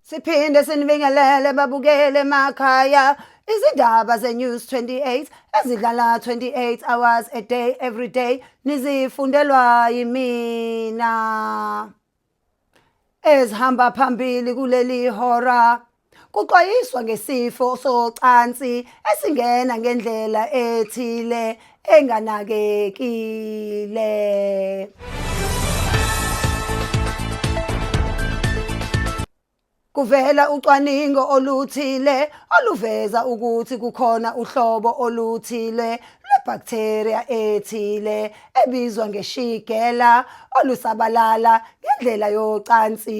siphinde sinibingelele babukele emakhaya izindaba ze-news 28 ezidlala 28 hours a day every day nizifundelwa yimina ezihamba phambili kuleli hora Kuxwayiswa ngesifo socansi esingena ngendlela ethile enganakekile. Kuvela ucwaningo oluthile oluveza ukuthi kukhona uhlobo oluthile lwebacteria ethile ebizwa ngeShigella olusabalala ngendlela yocansi.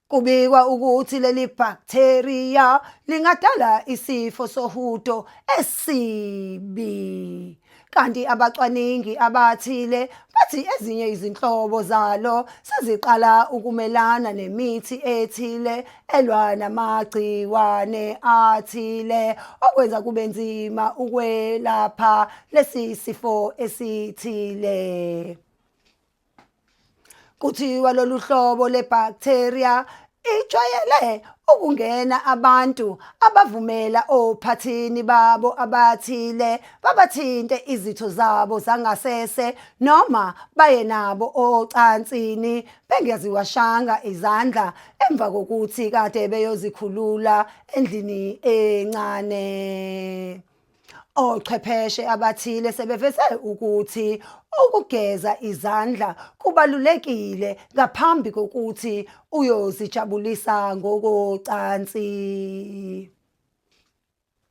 Kubikwa ukuthi leli bacteria lingadala isifo sohudo esibi. Kanti abacwaningi abathile bathi ezinye izinhlobo zalo seziqala ukumelana nemithi ethile elwa namagciwane athile okwenza kube nzima ukwelapha lesi sifo esithile. Kuthiwa lolu hlobo lwebhaktheriya ijwayele ukungena abantu abavumela ophathini babo abathile babathinte izitho zabo zangasese noma baye nabo ocansini bengeziwashanga izandla emva kokuthi kade beyozikhulula endlini encane. Ochwepheshe abathile sebeveze ukuthi ukugeza izandla kubalulekile ngaphambi kokuthi uyozijabulisa ngokocansi.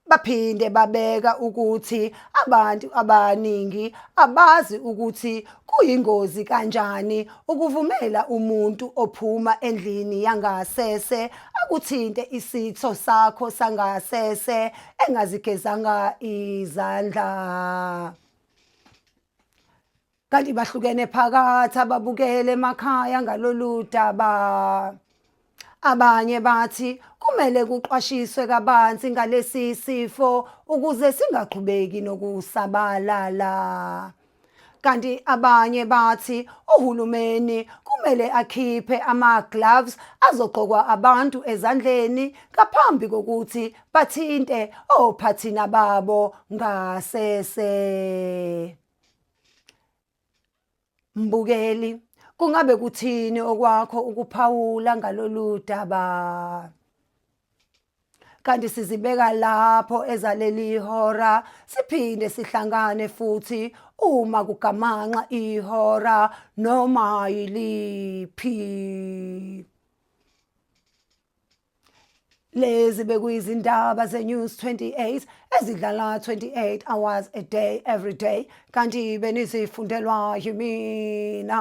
Baphinde babeka ukuthi abantu abaningi abazi ukuthi kuyingozi kanjani ukuvumela umuntu ophuma endlini yangasese akuthinte isitho sakho sangasese engazigezanga izandla kanti bahlukene phakathi ababukele emakhaya ngalolu daba abanye bathi kumele kuqwashiswe kabanzi ngalesi sifo ukuze singaqhubeki nokusabalala Kanti abanye bathi uhulumeni kumele akhiphe ama-gloves azogqokwa abantu ezandleni ngaphambi kokuthi bathinte ophathina babo ngasese. Mbukeli, kungabe kuthini okwakho ukuphawula ngalolu daba? kanti sizibeka lapho ezaleli ihora siphinde sihlangane futhi uma kugamanxa ihora noma yiliphi lezi bekuyizindaba ze-news 28 ezidlala 28 hours a day every day kanti benizifundelwa yimina